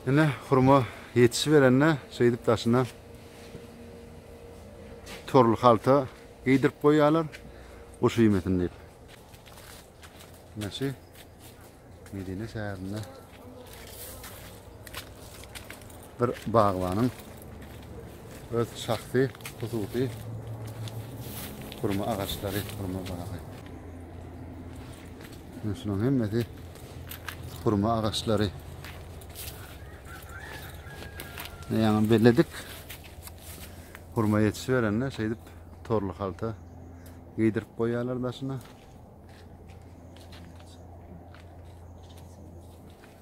Ine hurma ýetişiberende şeýdip daşyna torly halta geýdirip goýýarlar. Guş iýmesin diýip. Naşy Medine şäherinde Bir bagbanyň öz şahsy, hususy hurma agaçlary, hurma bagy. Şunuň hemmesi hurma agaçlary. Ýaňy belledik. Hurma ýetişiberende şeýdip torly halta giydirip koyarlar daşına.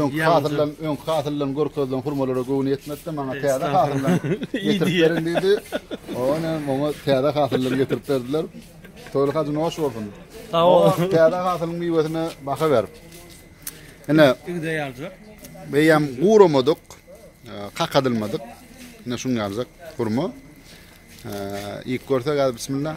Öňki hasyldan, öňki hasyldan görkezilen hurmalara göwni ýetmedi, maňa täze hasyldan getirip beriň diýdi. Ony maňa täze hasyldan getirip berdiler. Toýly hajy noş bolsun. Sag ol. Täze hasylyň miwesine baha ber. Ine, igde ýaljak. Beýem guramadyk, kakadylmadyk. Ine şuň ýaljak hurma. Iýip görsek, bismillah.